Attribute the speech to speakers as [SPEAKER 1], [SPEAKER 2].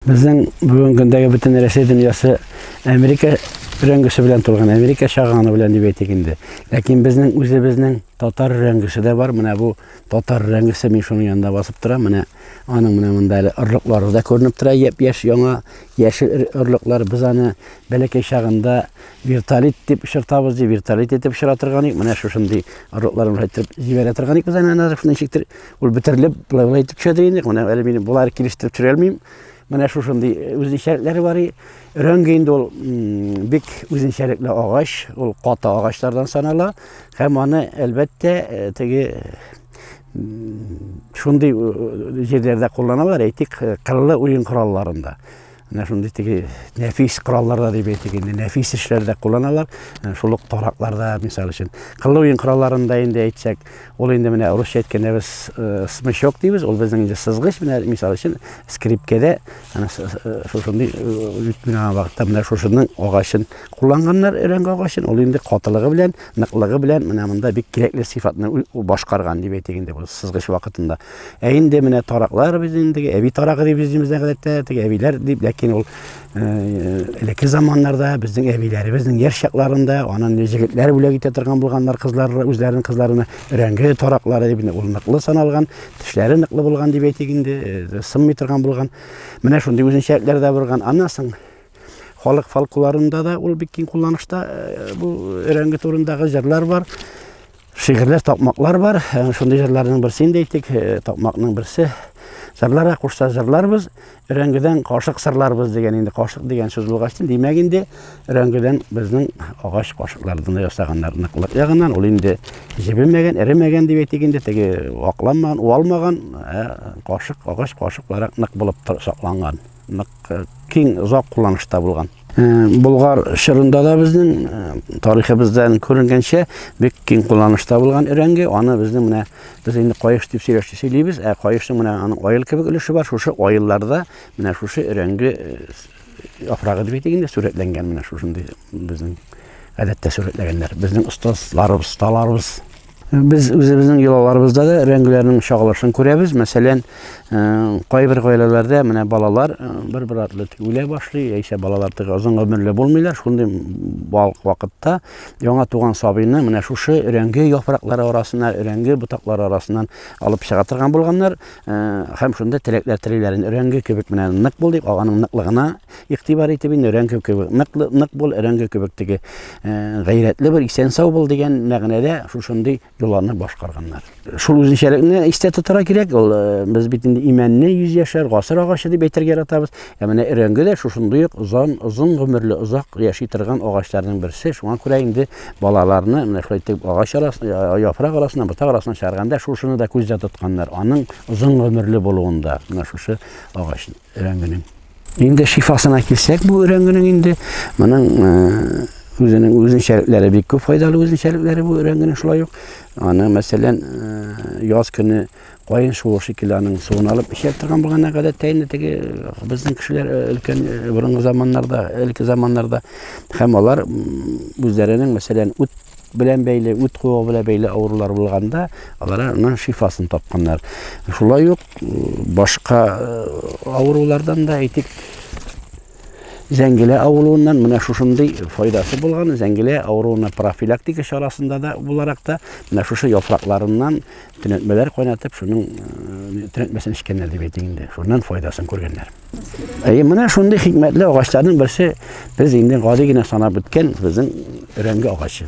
[SPEAKER 1] Безнең бүгенге көндәге бөтен Рәсәй дөньясы Америка рәңгеше белән тулган, Америка шаганы белән дип әйтик инде. Ләкин безнең үзебезнең татар рәңгеше дә бар. Менә бу татар рәңгеше мин шуның янында басып тора. Менә аның менә монда әле орлыклары да күренеп тора. Яп яшь яңа яшел орлыклар без аны бәләкәй чагында вертолит дип чыртабыз ди, вертолит итеп чыра торган ик. Менә шушындый орлыклар белән җибәрә торган ик без аны ничектер Ул бетерелеп, былай-былай итеп төшәдер инде. Менә әле мин болар килештереп төшерә алмыйм. Менә шушындый э, үзенчәлекләре бар. Өрәңге инде ул бик үзенчәлекле агач, ул каты агачлардан санала һәм аны әлбәттә э, теге шундый э, җирләрдә кулланалар, әйтик, кырлы уен коралларында. Менә шундый теге нәфис коралларда дип әйтик инде, нәфис эшләрдә кулланалар. Шул ук таракларда, мисал өчен, кыллы уен коралларында инде әйтсәк, ул инде менә русча әйткәндә без э, смычок дибез, ул безнең инде сызгыч, менә мисал өчен скрипкәдә э, шушындый э, менә вакытта менә шушының агачын кулланганнар, өрәңге агачын, ул инде катылыгы белән, ныклыгы белән менә монда бик кирәкле сыйфатны башкарган дип әйтик инде, бу сызгыч вакытында. Ә инде менә тараклар без инде әби тарагы дип үзебездә гадәттә теге әбиләр дип, ләкин ул э, элекке заманнарда безнең әбиләребезнең яшь чакларында анын җегетләр бүләк итә торган булганнар кызлар үзләренең кызларына өрәңге тараклары дип ул ныклы саналган, тешләре ныклы булган дип әйтик инде, э, сынмый торган булган. Менә шундый үзенчәлекләр дә барган. Аннан соң халык фолклорында да ул бик киң кулланышта э, бу өрәңге турындагы җырлар бар. Шигырьләр такмаклар бар. Э, шундый җырларның берсе инде әйтик, э, такмакның берсе. Җырларга кушса җырларбыз, өрәңгедән кашык сырларбыз дигән инде кашык дигән сүз булгач, димәк инде өрәңгедән безнең агач кашыклардан ясаганнар ныклык ягыннан. Ул инде җебемәгән, эремәгән дип әйтик инде, теге вакланмаган, уалмаган э, кашык, агач кашыкларак нык булып сакланган. Нык киң, озак кулланышта булган. Болгар чорында да безнең тарихыбыздан күренгәнчә бик киң кулланышта булган өрәңге. Аны безнең менә без инде каеш дип сөйләште сөйлибез, ә каешның менә аның аел кебек өлеше бар. Шушы аелларда менә шушы өрәңге яфрагы дип әйтик инде сурәтләнгән менә шушындый безнең гадәттә сурәтләгәннәр. Безнең остазларыбыз, осталарыбыз Без үзебезнең йолаларыбызда да рәңгеләрнең чагылышын күрәбез. Мәсәлән, кайбер гаиләләрдә менә балалар бер-бер артлы үлә башлый, яисә балалар тыгы озын гомерле булмыйлар. Шундый балык вакытта яңа туган сабыйны менә шушы рәңге яфраклары арасына, рәңге ботаклары арасыннан алып чыга торган булганнар. Һәм шунда теләкләр телиләрен рәңге кебек менә нык бул дип, аганың ныклыгына Игътибар итеп инде өрәңге кебек, нык, нык бул өрәңге кебек теге гайрәтле бер исән сау бул дигән мәгънәдә шушындый юлларны башкарганнар. Шул үзенчәлекне истә тотарга кирәк. Ул без бит инде имәнне 100 яшәр, гасыр агачы дип әйтергә яратабыз. Ә менә өрәңге дә шушындый ук озын, озын гомерле, озак яши торган агачларның берсе. Шуңа күрә инде балаларны менә шулай итеп агач арасына, яфрак арасына, ботак арасына чыгарганда шушыны да күздә тотканнар. Аның озын гомерле булуында менә шушы агачны. Өрәңгенең. Инде шифасына килсәк, бу өрәңгенең инде моның үзенең үзенчәлекләре бик күп файдалы үзенчәлекләре бу өрәңгенең шулай ук. Аны, мәсәлән, яз көне кайын шуы шикелле аның суын алып эчә торган булганда гадәттә инде теге безнең кешеләр өлкән борынгы заманнарда, элекке заманнарда һәм алар үзләренең, мәсәлән, үт белән бәйле, үт куыгы белән бәйле авырулар булганда, алар аның шифасын тапканнар. Шулай ук башка авырулардан да әйтик, зәңгелә авыруыннан менә шушындый файдасы булган, зәңгелә авыруына профилактика чарасында да буларак та менә шушы яфракларыннан төнәтмәләр кайнатып, шуның төнәтмәсен эчкәннәр дип әйтик инде. Шуннан файдасын күргәннәр. Әйе, менә шундый хикмәтле агачларның берсе без инде гади генә санап үткән безнең өрәңге агачы.